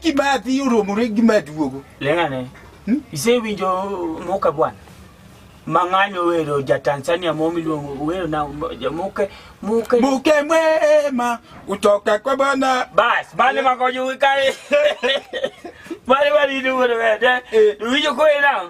Kimathi oromore gi maduogo. Leng'ane. Hmm? Isewinjo muka bwana? Mang'anyo wero ja Tanzania mo miluongo wero na ja muke muke muke mwema utoka kwa bwana bas bale makojo wikare bale bali ni wero wede eh. uwijo ko ina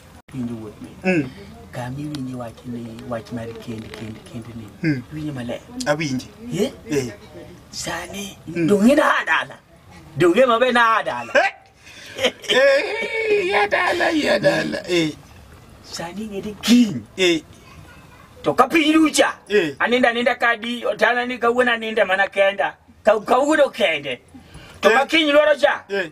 Winjo wuot ni. Mm. Kama iwinje wach ni wach mar kend kend kend ni. Mm. Winjo maler. Awinje. Eh? Eh. Sani mm. donge na adala. Donge mabe na adala. Eh, eh ya dala ya dala. Eh. Sani ngede king. Eh. To kapiny rucha. Eh. Aninda ninda kadi otana ni kawuona ninda mana kenda. Kawuono kende. To eh. makinyiloro cha. Eh.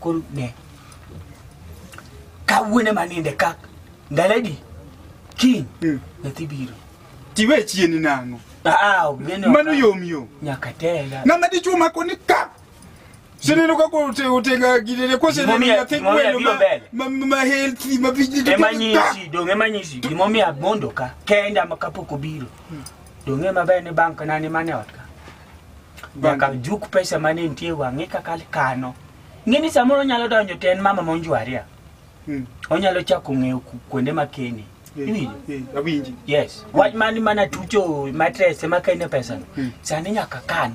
koro ne kawuone maninde ka ndaledi kiny Mm. nyathi biro tiwe chieni nang'o Aa, ok nene ok- mano yom yom nyaka tega nanga dichuo mako ni ka sineno kaka ote- otega gidene koseneno Gimomiyo- nyathi gimomiyo gweno biro ma- mbele. ma- ma- ma healthy ma vijiti to ka emanyisi dong emanyisi gimomiyo amondo ka kenda ma kapok obiro dong ema ber ni bank nani mane ot ka nyaka juk pesa mane nitie wang'e kaka kano ng'eni samoro onyalo donjo ten mama monjwaria Mm. onyalo chako ng'eyo ku- kuonde makene Eh, Iwinjo? eh, awinji yes wach mani mana tucho matres ema kene pesa no Mm. sani nyaka kan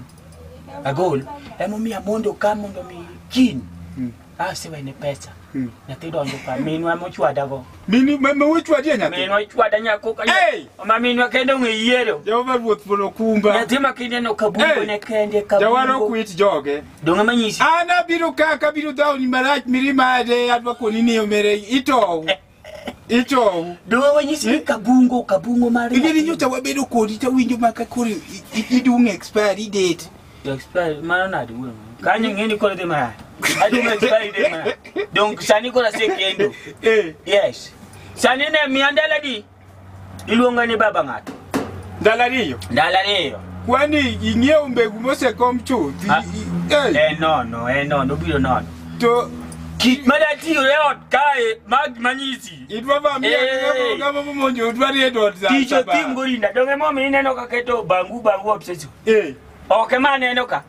agol emomiyo amondo ka mondo mi kin Mm. Ah, siwe ni pesa. Mm. Nyathi donjo ka minwa mochwada go. Mini ma ma wechwadi nyathi. Minwa chwada nyako ka. Hey! Ma minwa kende ong'e yiero. Jehova ruoth polo kumba. Nyathi ma kinde no kabungo Hey! ne kende kabungo. Jawaro kwit joge. Donge manyisi. An abiro ka kabiro dhawni marach mirima ade adwa koni ni omere itow. Ichou. Dowe wanyisi ni kabungo, kabungo mar. Ing'e ni nyocha wabedo kodi to winjo ma ka koro i- i- idung' expiry date. Expiry mano nadi wuon. Kanyo ng'eni koro dhi mara. Adum expiry date mara. Donk sani koro asekendo. Eh. Yes. Sani ne miya ndalo adi? iluonga ni baba ng'ato ndalo ariyo ndalo ariyo kwani ing'iewo mbegu mosekom chuth Ah. I- i- eh, en nono en nono obiro nono to kit madatiyo e ot kae mag manyisi idwa ba miya Hey. gama momonjo odwa ni edot za tich saba. otim gorinda donge momi ineno ka keto bangu bangu obsession Eh, ok ema aneno ka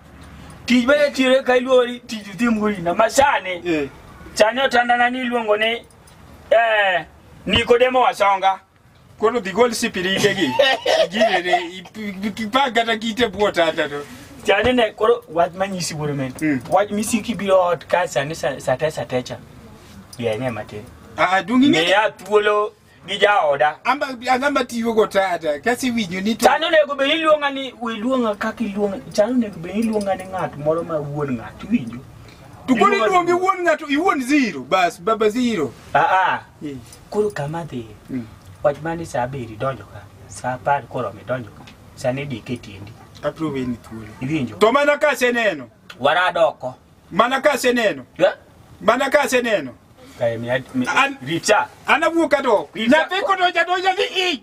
tich madatiyo ka iluori tich otim gorinda masani eh, sani otandana ni iluongo ni eh Nikodemo Wasonga koro dhi gol sipirike gi girene ipag kata kite bwo tata to chane ne koro wach manyisi wuoro men Mm. wach misiki biro ot ka sani sa- sate satecha yenye matin ah dungi ngi miya thuolo gi jaoda amba angamba tiyo go tata kasi winyo ni to chano onego bed iluonga ni iluonga kaka iluonga chano onego bed iluonga ni ng'at moro ma wuon ng'at iwinjo To koro Iluongo- iluongi wuon ng'ato iwuon zero bas baba zero. Aa, Eh. koro kama dhi. Mm. Wach mani saa abiri donjo ka. Saa apar koro midonjo ka. Sani dike tiendi. Abro weni thuolo. Iwinjo? To mana ka aseneno. Warado oko. Mana ka aseneno. Yeah? Mana ka aseneno. Kae mi mi An- richa. An awuok adok. Nyathi kodonja donja ni i.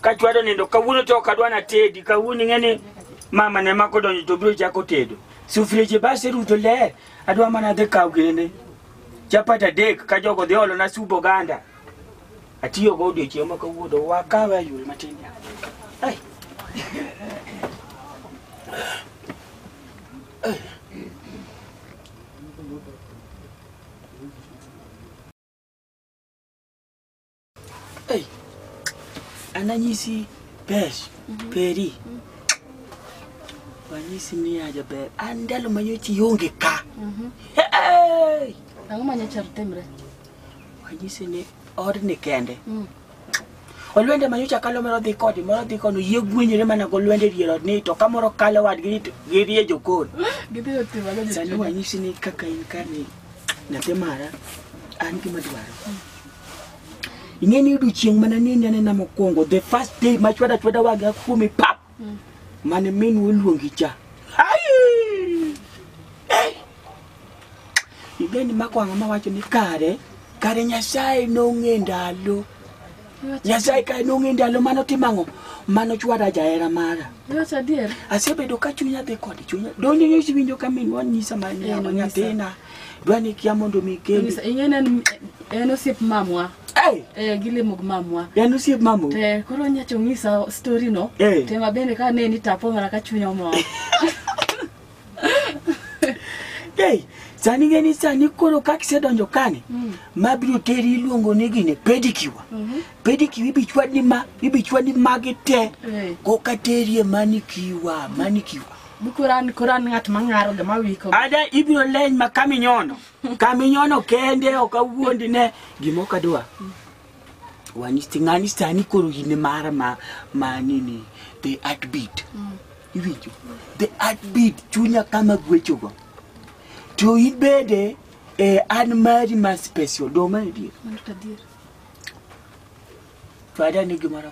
ka chwado nindo kawuono to ok adwa natedi kawuono ing'e ni mama ne mako donjo to biro chako tedo sufrieche base ruto ler adwa mana dhi kaw gene chapat adek ka jogo dhi olona subo ganda atiyogo odiochieng' ma kawuono wakawe ayul matin Ai. Hey, ananyisi pesh peri wanyisi ni aja ber an ndalo manyochi ionge ka Hey! Ang'o ma nyocha timre? wanyisi ni odni kende Mm. olwende manyocha kalo moro dhi kodi moro dhi kono yie gwenyore mana golwende dier od ni to kamoro kalo wadgi ni to girie jokon Gidhi otimo ang'o sani jachien? wanyisi ni kaka in kani nyathi mara an gima dwaro ing'e ni odiochieng' mana ni nanena mokwongo the first day ma chwada chwada waga kuome pap mane min woluongi cha Ai! Eh! ing'e ni mako ang'o mawacho ni kare kare nyasaye nong'e ndalo nyasaye kare nong'e ndalo mano timang'o mano chwada jahera mara Iwacho adier? asebedo ka chunya dhi kode chunya donjo nyosi winjo ka minwa nyisa ma nyathina dwa ni kia mondo mi kendi Nyisa- ing'eni en- en osiep mamwa hey, eh, gilimo gi mamwa en osiep mamo te koro nyacho ng'isa story no Eh. te mabende ka neni tapo mana ka chunya omor hey, sani ngeni sani koro kaka isedonjo kani mabiro teri iluongo ni gini pedikiwa pedikiwa ibichwadi ma ibichwadi magi te Eh. koka terie manikiwa manikiwa Bukoran koran ng'at mang'aro gima wiko. Ada ibiro leny ma kaminyono. Kaminyono kende ok awuondi ne gima ok adwa. Wanisti ng'ani sani koro in mara ma ma nini the heartbeat. Iwinjo? The heartbeat chunya kama gwechogo. To ibede eh, an mari ma special do ma adier. Mano to adier. To ada ni gimoro.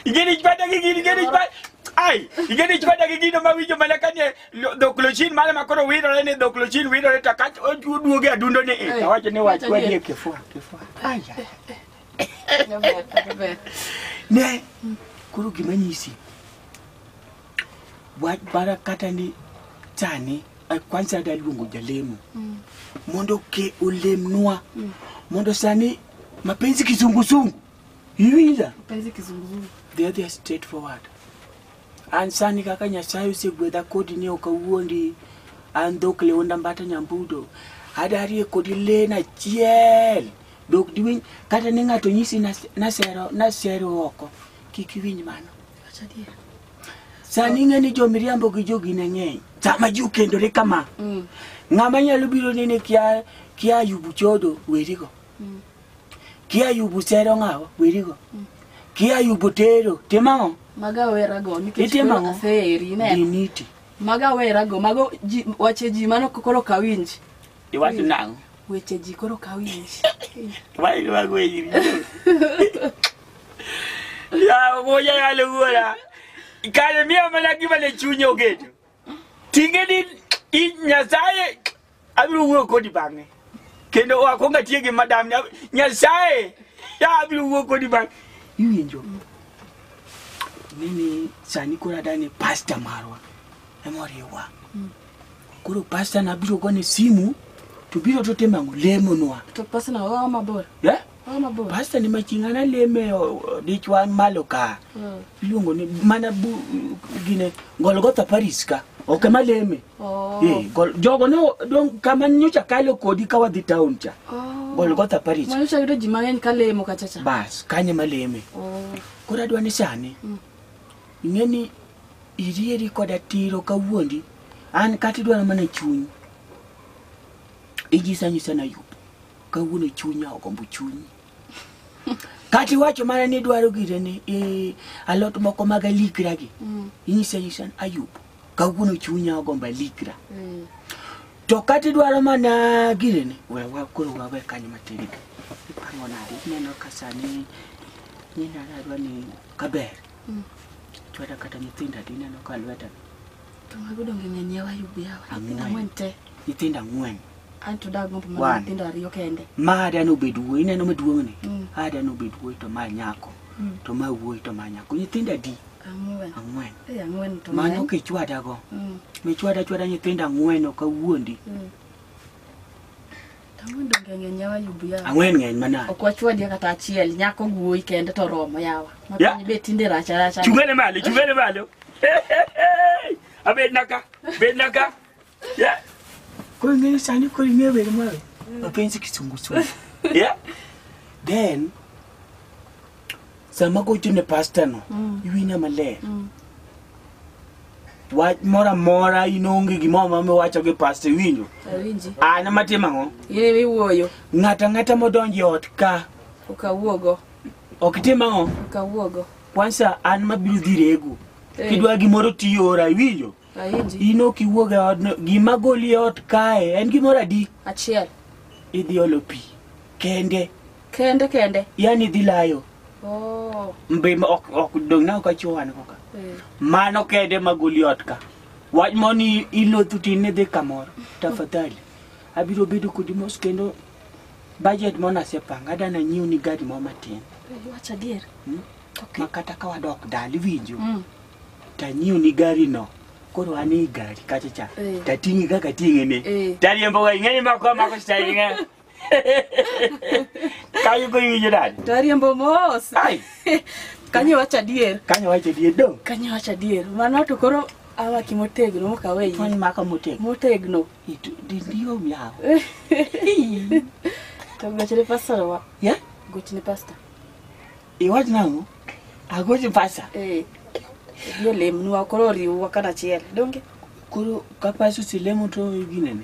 Igeni chpada gi gini, igeni chpada. Ai, igeni chpada gi gino ma winjo mana ka ne lo- dhok lochin mane ma koro wirore ni dhok lochin wirore to kach oduoge adundo ni eh. Awacho ni wach kwadi e kifua, kifua. Ai. ai. Jaber, jaber. Ne, koro gima nyisi. Wach bara kata ni sani eh, kwanza daluongo jalemo. Mondo ke olemnwa. Mondo sani Mapenzi kizunguzungu. Iwinja. Mapenzi kizunguzungu. The other is straightforward. An sani kaka Nyasaye osegwedha kodi ni ok awuondi an dhok leonda mbata nyambudo. Adarie kodi len achiel. Dok diwinj kata ni ng'ato nyisi nas- nasero nasero oko. Kik iwinj mano. Sani ing'e ni jomiriambo gi jogi ne ng'eny. Sama ji okendore kama, Mm. ng'ama nyalo biro nene kia kia yubu chodo werigo. Mm. Kia yubu sero ng'awa werigo. Kia yubu tero timang'o Maga wera go nikech Itimo koro ang'o? aseri ne. diniti. Maga wera go mago ji wache ji mano koro kawinj. Iwacho nang'o? Weche ji koro kaw ish. Why do I go in? Ya moja ya lugura. Ikale mia mana giba le chunyo gedo. Tinge ni i nyasaye abiro wuo kodi bang'e. Kendo wakonga tie gi madam nya- nyasaye ya abiro wuo kodi bang'e. Iwinjo. Mimi sani kora dani pastor marwa. Emoriwa. Koro pasta nabiro gone simu to biro to tema lemo nwa. To pasta na owa mabor. Yeah? Owa mabor. Pasta ni machinga na leme dichwa malo ka. Mm. Iluongo ni mana bu gine Golgotha Paris ka. Ok ema leme. Oh. Eh, gol, jogo ne dong kama nyocha kalo kodi ka wadhi town cha. Oh. Golgotha Paris. Mano cha yudo ji mang'eny ka lemo kacha cha. Bas, kanye maleme. Oh. Koro adwa ni sani. Mm. Ing'e ni Irieri koda tiro kawuondi. An kata idwaro mana chuny. Ijisa nyisa na yup. Kawuono chunya ogombo chunyi. Kata iwacho mana ni idwaro gire ni eh, alot moko mag alikra gi. Mm. Inyisa nyisa ni ayup. Kawuono chunya ogombo alikra. Mm. To kata idwaro mana gire ni we wa koro wawe kanyo matin. Ipango nadi ineno ka sani nyina adwa ni kaber. Mm. Chwada kata nyithindo adi neno ka lweta. To mago donge ng'eny yawa yubi yawa. Nyithindo ang'wen te. Nyithindo ang'wen. An to dago mpo mana nyithindo ariyo kende. Ma ada no bed wuoyi neno maduong' ni. Mm. Ada no bed wuoyi to ma nyako. Mm. To ma wuoyi to ma nyako. Nyithindo adi? Ang'wen. Ang'wen. Eh ang'wen to. Mano ke chwada go. Mm. Me chwada chwada nyithindo ang'wen ok awuondi. Mm. Tawundo ngenge nyawa yubu yawa. Ang'wen ng'eny manade. Ok wachwadie kata achiel, nyako wuoyi kende to romo yawa. Ma Ya. piny be tinde rach rach. Chungane malo, chungane malo. Abed naka, bed naka. Yeah. Koro ing'eyo sani koro ing'eyo wer mawe. Mapenzi kisungu sungu. Yeah. Then sama gocho ne pasta no Mm. iwinja maler Mm. wach moro amora in onge gimoro ma miwacho gi pasta iwinjo Awinji. an ema tim ang'o In ema iwuoyo. ng'ato ang'ata modonjo e ot ka Ok awuogo. ok tim ang'o Ok awuogo. kwansa an mabiro dhi rego Eh. kidwa gimoro tiora iwinjo Awinji. in ok iwuog e odno gima goli e ot kae en gimoro adi Achiel. idhi olo pi kende Kende kende. Yani dhi layo. Oh. Mbe ok ok dong na ka chuan ko ka. Eh. Mano kede maguli ot ka. Wach moni ilo tuti ne dhi kamoro. Tafadhali. Abiro bedo kodi mos kendo budget mona sepanga dana nyiu ni gari mo matin. Eh, Wacha dier. Hmm? Okay. Makata ka wadok dali winjo. Mm. Tanyiu ni gari no. koro ane igari kacha cha eh. tatingi kaka tingene eh. tariembo waingeni makwa makoshitainga Kayo ko yuji dad. Tariembo mos. Ai. Kanyo wacho adier. Kanyo wacho adier do. Kanyo wacho adier. Mano to koro awa kimotegno mokawe yi. Tony maka motegno. Motegno. Itu dindio miao. To gochne pastor wa. Ya? Gochne pastor. Iwach nango? Agoche pastor. Eh. Yo lemnwa koro riwwa kanachiel. Donge? Koro ka pastor silemo to ginene.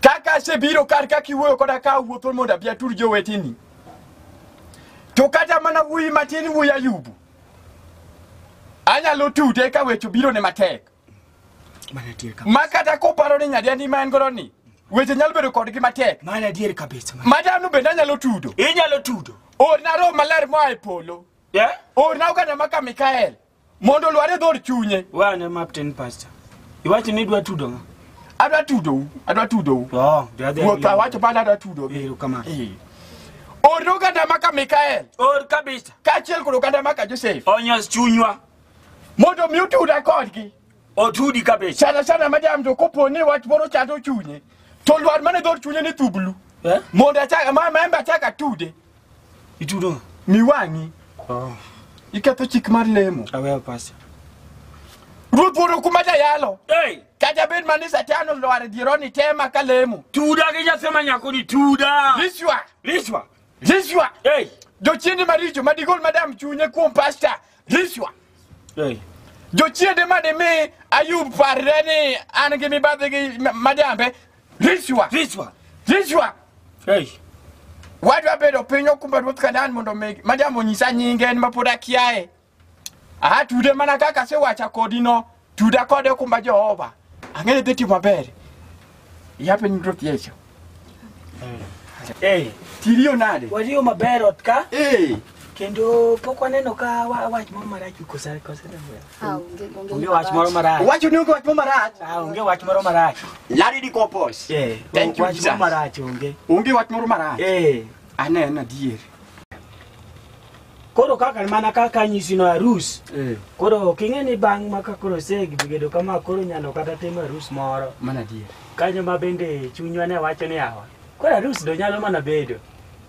Kaka asebiro kar ka kiwuoyo koda ka awuotho mondo abi atur joweteni. To kata mana wuoyi matin wuoyi Ayubu. Anyalo tude ka weche biro ne matek. Mana adier kabisa. Ma kata koparo ni nyadiandi ma en godo ni, weche nyalo bedo kodgi matek. Mana adier kabisa. Mana- Ma dhano bende anyalo tudo. Inyalo tudo. Orna roho maler moa e polo. Yeah? Orna oganda maka Mikael. mondo olwar e dhod chunye wane maptin pastor iwacho ni idwa tudo ng'a adwa tudou adwa tudou oh the other ruoth awacho pale adwa tudogi ero kama Eh. or oganda maka mikael or kabisa kaachiel kod oganda maka josef onyos chunywa mondo omi utuda kodgi otudi kabisa sana sana madam to kopo ni wach moro chando chunye to lwar mane dhod chunye ni thublu eh mondo achak ma membe achak atude Itudo. Miwang'i. Oh. Iketho chik mar lemo. Aweyo pasta. Ruoth wuoro kuma jayalo. Hey. Kata bed mani satano lwar jironi tema ka lemo. Tuda gi jasema nyako ni tuda. Liswa. Liswa. Liswa. Hey. Jochiende maricho madigol madam chunye kuom pasta. Rishwa. Hey. Jochiende ma dimi Ayub parre ni an gi mibadhi gi ma- majambe. Rishwa. Rishwa. Rishwa. Hey. Wadwa bedo piny okumba ruoth Kanaan mondo mi majambo nyisa nyinge en mapod akiaye. Aha tude mana kaka sewacha kodi no. Tuda kode okumba Jehova. Ang'e ni dhi timo maber. Yape nying Ruoth Yesu. Ee, Tiriyo nade? wariyo maber ot ka Ee. kendo pok waneno ka wa- wach moro marach kose kose Ah, onge onge. onge wach moro marach Wacho ni onge wach marach. Ah, onge wach moro marach Lari di kopos. Eh, Thank you, wach moro Jesus. marach onge Onge wach moro marach. Eh, Aneno adier. koro kaka mana kaka nyisi no arus Eh, koro ok ing'e ni bang' ma ka koro segibedo kama koro nyalo kata timo arus moro mana adier. kanyo ma bende chunywa ne wacho ni awa koro arus do nyalo mana bedo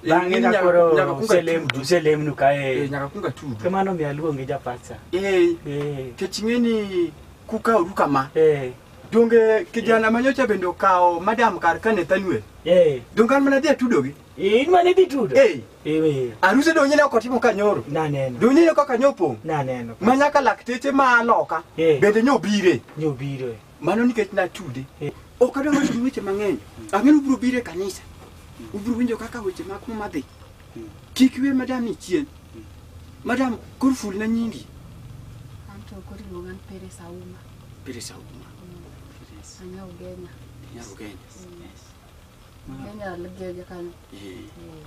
Eh, bang'e ni ka nyaka- nyaka koro kunga uselem- tudu. uselemnu Eh, kae nyaka kunga tudu. kamano mi aluongi japatsa Eh, Eh, kech ing'e ni kuka uru kama. eh, Donge kijana manyocha bende okawo madam kar ka Nathaniel. eh, Donge an mana dhi atudogi. Eh, in mane dhi tudo? Eh. Eh, we. Aruse donye ne okotimo kanyoro. Naneno. Donye ne kaka nyopo. Naneno. Ma nyaka lakteche ma aloka. Eh. Bende nyobire. Nyobire. Mano nikech natude. Eh. Ok adwa wacho weche mang'eny. Ang'eno ubiro bire kanisa. Ubiro winjo kaka weche mag muma dhi. Kik we madam ni chien. Madam, kor ful na nyingi. Anto kori luonga ni Pere Sauma. Pere Sauma. Anya Ugenya. Anya Ugenya. Yes. Kenya ligege kanyo. Eh, Eh,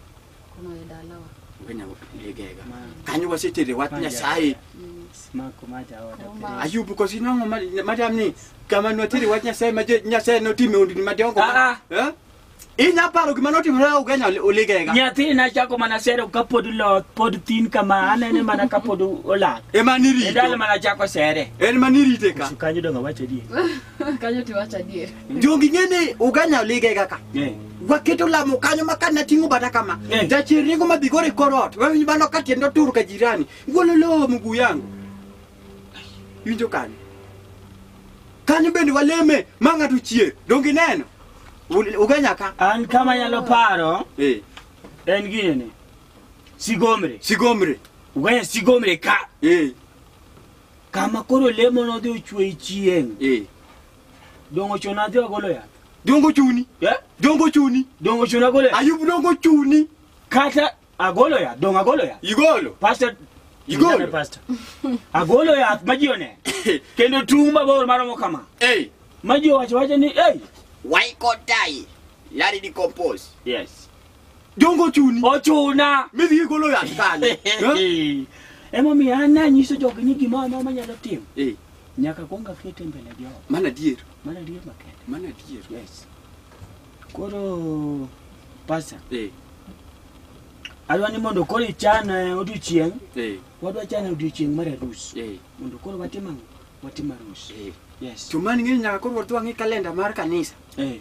Kono e dalawa. Kenya ligega. Kanyo wasetere wach Nyasaye. Mm. Smako maja oda. Uma. Ayubu kosi nongo ma- madam ni kama nwatere wach Nyasaye ma je- Nyasaye notime undini madongo. Ah, Eh? Inya paro gima notimore au Kenya oligega. Nyathini nachako mana sero ka pod loth, pod thin kama, anene mana ka pod olak. Ema E dala nirito. mana chako sere. En manirite ka. Kanyo donga wacho di. Kanyo tiwacho adier. Jogi ng'e ni uganya olige kaka. Eh. Waketo lamo kanyo ma kana ting'o bata kama. Eh. Jachir ringo ma bigore e kor ot. Wawinjo bano ka tiende otur ka jirani. Gololo mguu yangu. Winjo kanyo. Kanyo bende waleme ma ng'ato chier. Dongi neno. Ul- Uganya ka. An kama nyalo paro Eh. en gini ni. Sigomre. Sigomre. Uganya sigomre ka. Eh. kama koro lemo nodhi ochwe chieng' Eh. dongo chon adhi agolo yath Dongo chuni. Eh? Dongo chuni. dongo chon agolo yath Ayub dongo chuni. kata agolo yath dongo agolo yath Igolo. pastor Igolo. Ndana pastor agolo yath ma ji oneno kendo tung' mabor maromo kama Eh. ma ji owacho wacho ni ei Why can't I? Larry decompose. yes Jongo chuni. Ochuna. Midhi igolo yath kanye. Eh? Emomiyo an nanyiso jogi ni gimoro amora manyalo timo. Eh. Nyaka kwong akete mbele jogo. Mana adier. Mana adier makende. Mana adier. Yes. Koro pasa. Eh. Adwa ni mondo koro ichan eh, odiochieng'. Eh. Wadwa chan odiochieng' mar arus. Eh. Mondo koro watim ang'o? Watim arus. Eh. Yes. Chumani ng'e nyaka koro wadwa ng'i kalenda mar kanisa. Eh.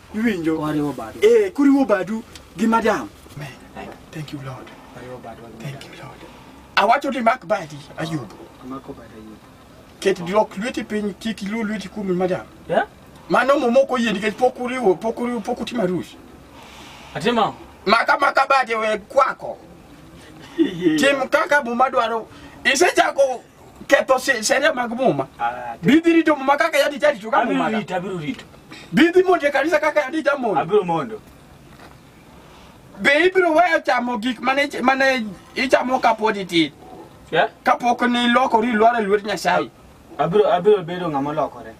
iwinjo Wariwo badu. eh kuriwo badu gi madam Amen. thank you lord Wariwo badu. thank you lord awacho ni mak badi ayub Amako badu ayub. ket lok lweti piny kik ilu lweti kuom madam Yeah? mano muma ok oyie nikech pok uriwo pok uriwo pok utimo arus Atima. maka maka badi we kwako tim kaka muma dwaro isechako ketho she- sheria mag muma Ah, te- bidhi rito muma kaka yadi jarito ka abiro muma rito abiro rito bidhi monjo e kanisa kaka yadi jamondo abiro mondo be ibiro weyo chamo gik mane mane ichamo kapod itin Eh? kapok nilokori ilwar e lwet nyasaye abiro abiro bedo ng'ama olokore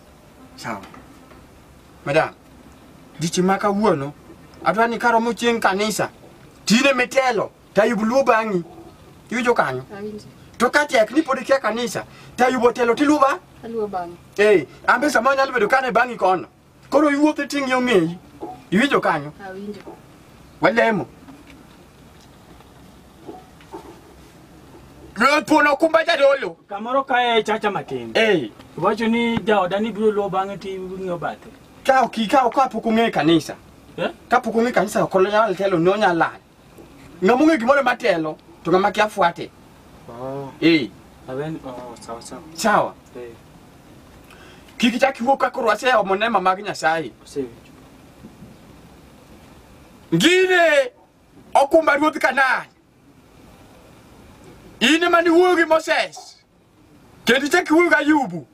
sawa madam dichi ma kawuono adwa ni karomo chieng' kanisa tine mitelo Tayub luwo bang'i. Iwinjo kanyo? Awinjo. To ka tek ni pod ikia kanisa, Tayub otelo tiluwo ba? Aluwo bang'e. Eh, ambe sama nyalo bedo kane bang'i kono. Koro iwuotho iting' yo ng'eyi. Iwinjo kanyo? Awinjo. Walemo. Ruoth pon okumba jadolo. Kamoro kae e chacha matin. Eh, Iwacho ni jaoda ni biro luwo bang'e ti ng'iyo bathe. ka ok ikaw ka pok ung'e kanisa. Eh? Ka pok ung'e kanisa ok onyal telo ni onyal lal. ng'ama ong'e gimoro ema telo to ng'ama kia fuate Oh, eh awen oh, sawa sawa. sawa Eh, kik ichak iwuo ka koro aseomo nema mag nyasaye osewinjo. ngine okumba ruodh kanan in ema niwuoyo gi moses Kendo ichak iwuoyo gi Ayubu,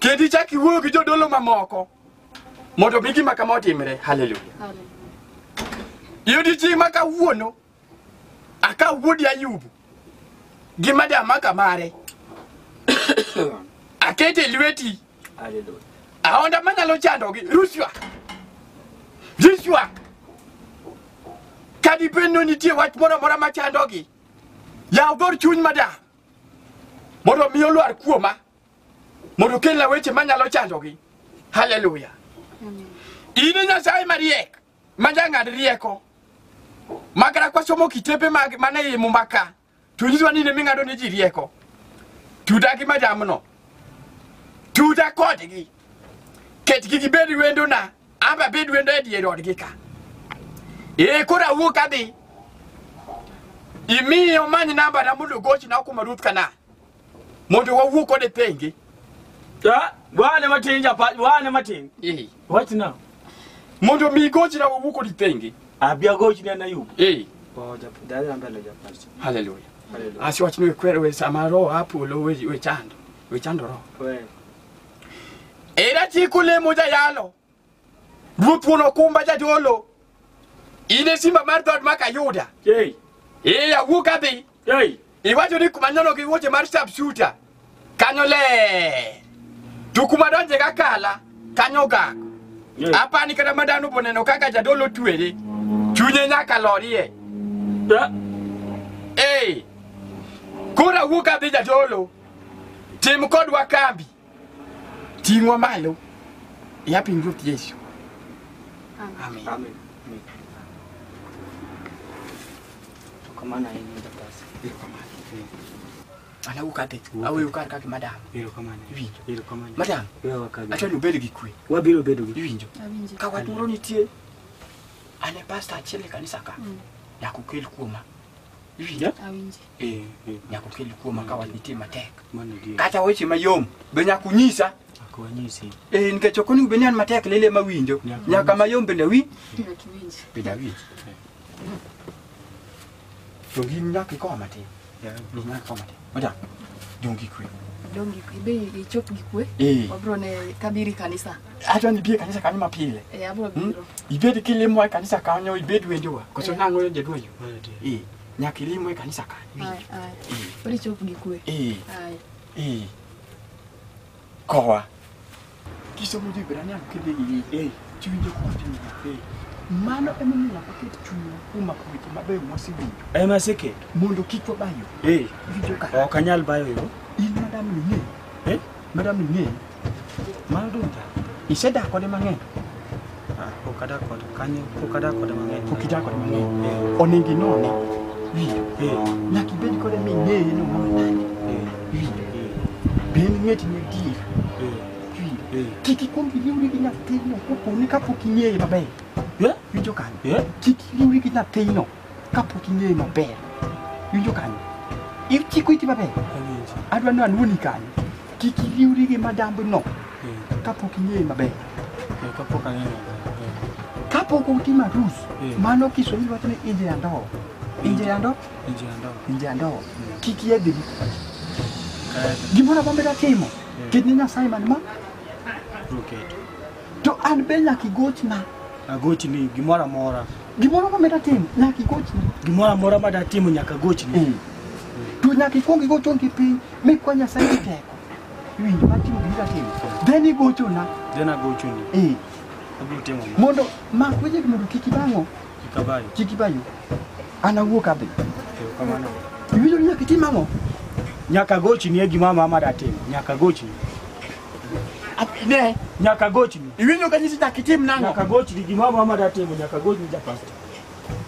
kendo ichak iwuoyo gi jodolo mamoko mondo mi gima kama otimre. Haleluya! Yudi chi ma kawuono akaw wuodi Ayubu gi madamaka mare akete lweti Hallelujah. aonda manyalo chandogi rushwa rushwa kadibed ni nitie wach moro amora machandogi Yaw dhor chuny mada mondo mi olwar kuoma mondo kelna weche manyalo chandogi. Haleluya. In e Nyasaye mariek ma jang'ad rieko ma kata kwasomo kitepe mag mane iye muma ka to nyisowa ni in ema ing'ado ne ji rieko. Tuda gi madamno. Tuda kodgi. Ketgi gibed wendona ama bed wendo e dier odgi ka ee koro awuok adhi imiye omany nambana mondo ogochna okuma ruth kana mondo wawuo kode thenge Ah, wane matin japa wane matin Ee. what now mondo mi igochna wawuo kodi thenge abia gochi ne na yup Ee. oh japa dai na mbele japa haleluya haleluya asiwachni wekwere we sama roho apolo we we chando we chando roho we Era chik olemo jayalo, Ruoth wuon okumba jadolo, in e simba mar dhood maka Yuda. Ei, Ee awuok adhi, ei, iwacho ni kuma nyono gi wuoche mar sharpshooter, kanyo ler. To kuma donje ga kala, kanyo gak. ei. Apani kata ma dhano boneno kaka jadolo twere, chunye nyaka lorie. Da, Ee, koro awuok adhi jadolo, Tim kodwa kambi. Ting'wa malo. Ya piny Ruoth Yesu. Amen. Amen. Tukamana hii ndio basi. Ana ukate. Awe ukar kake madam. Biro kamane. Iwinjo. Biro kamane. Madam. Wewe wakabi. Acha nubed gi kwe. Wabiro bedo gi. Iwinjo. Awinjo. Ka wat moro nitie. Ane pastor achiel e kanisa ka. Nyakukel kuoma. Iwinjo. Awinjo. Eh, eh, nyaka ukel kuoma ka wach nitie matek mano adier. kata weche mayom be nyaka unyisa Ok wanyisi. Eh, nikech ok onego bed ni an matek lele ema winjo Nyaka nyaka mayom bende wi bende awinj to gin nyaka ikowa matin Yeah. Gin nyaka ikowa matin oja dongi kwe dongi be ichop gi kwe Eh. wabro ne kabiri kanisa adwa ni bie kanisa kanyo mapile e abro Hmm? biro ibed kilimowa e kanisa kanyo ibed wendowa koso Yeah. nang'o jaduoyo Mano adier. Eh, nyaka ilimwe kanisa ka Aya, aya. Koro ichop gi kwe. eh Aya. eh kowa kisomo jo Ibrania kidhi gi eh chiwinjo kwa timo eh mano ema omiyo nyaka ket chunywa kuom mako weche mabeyo mwasewinjo ema aseketo mondo kik wabayo eh richo ka ok anyal bayo yo in madam ni eh Madam Ing'e, mano Dunta, isedak kode mang'eny. Ah, pok adak kode kanyo, pok adak kode mang'eny. Pok idak kode mang'eny. Eh, Onego inone. Wi, eh, nyaka ibed kode ming'eye ni omoro nade. eh, Wi, eh, be en ng'eti ni adier. eh, Wi, eh. kik ikwong iriwri gi nyathino koponi kapok ing'eye maber. Eh? Winjo kanyo? Eh? Kik iriwri gi nyathino. kapok ing'eyo maber winjo kanyo ichiko iti maber Awinjo. adwa ni anwoni kanyo kik iriwri gi madambno Eh, kapok ing'eyo maber eh, kapok ang'eyo maber. Eh, kapok utimo arus Eh. mano kiswahili wacho ni inje ya ndoo inje ya ndoo inje ya ndoo. inje ya ndoo kik yedhi Kae gimoro amora timo Eh. kit ni nyasaye man ma to ruketo. To an be nyaka igochna. Agochni gimoro amora. Gimoro ma meda timo nyaka igochna. Gimoro amora ma datimo nyaka agochni. Mm. To nyaka ikwong igochon gi piny mikwa Nyasaye gi teko. Iwinjo ma timo gima timo. Then igochona. Then agochoni. Eh. Abiro timo. Mondo mak weche mondo kik ibang'o. Kik abayo. Kik ibayo. An awuok adhi. Kamano. Iwinjo ni nyaka itim ang'o? Nyaka agochni e gima mama datimo. Nyaka agochni. Ne, Nyaka gochni. iwinjo ka nyisi dak itim nang'o? Nyaka gochni gimoro amora ma datimo nyaka gochni ja pasta.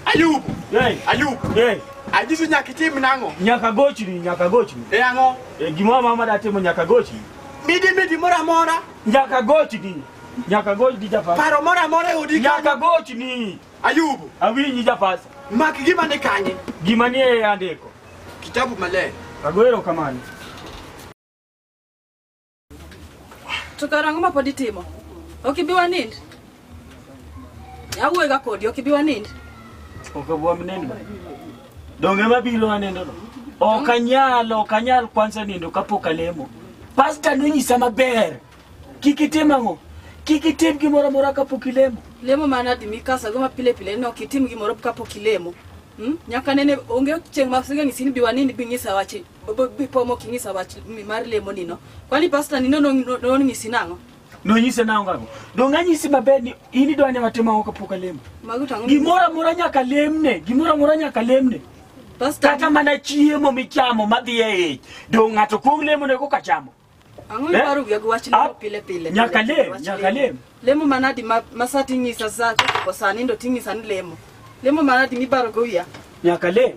Ayub, Hey, Ayub, hey, anyisi nyaka itim nang'o? nyaka gochni, nyaka gochni. E ang'o? E, gimoro amora ma datimo nyaka gochni. Midi midi moro amora, Nyaka gochni. Nyaka gochni ja pasta. paro moro amora e odi Nyaka kanyo. gochni. Ayub, Awinji ja pasta. mak gima ni kanye? Gima nie andiko. Kitabu maler. Agoero kamano. To kara ang'o ma pod itimo? Ok ibi wanind? Awuoyega kodi, ok ibi wanind? Ok abi wanind ba. Donge ma biro wanindono? Ok anyal, ok anyal kwanza nindo kapok alemo. Pasta nonyisa maber. Kik itim ang'o? Kik itim gimoro amora kapok ilemo. Lemo mana di mikasago ma pile pile ni ok itim gimoro kapok ilemo. Hmm? Nyaka nene onge chieng' ma sing'e ng'isi ni bi wanind bi ng'isa wachi. bipomo king'isa wach mar lemo nino kwani pasta nino nong'isi nang'o nonyise nang'o gago donge anyisi maber ni in idwa ni watimo ang'o kapok alemo gimoro amora nyaka lemne gimoro amora nyaka lemne kata mana chiemo michamo madhi e ich donge ng'ato kuong lemonego kachamo Ang'o Eh? miparo wiya gi wach Ah, lemo pile pile? nyaka pile, lem, wach nyaka lem. Lemo manadi ma ma sa ting'isa sa ko sa nindo ting'isa ni lemo. Lemo manadi mibaro go wiya? Nyaka lem.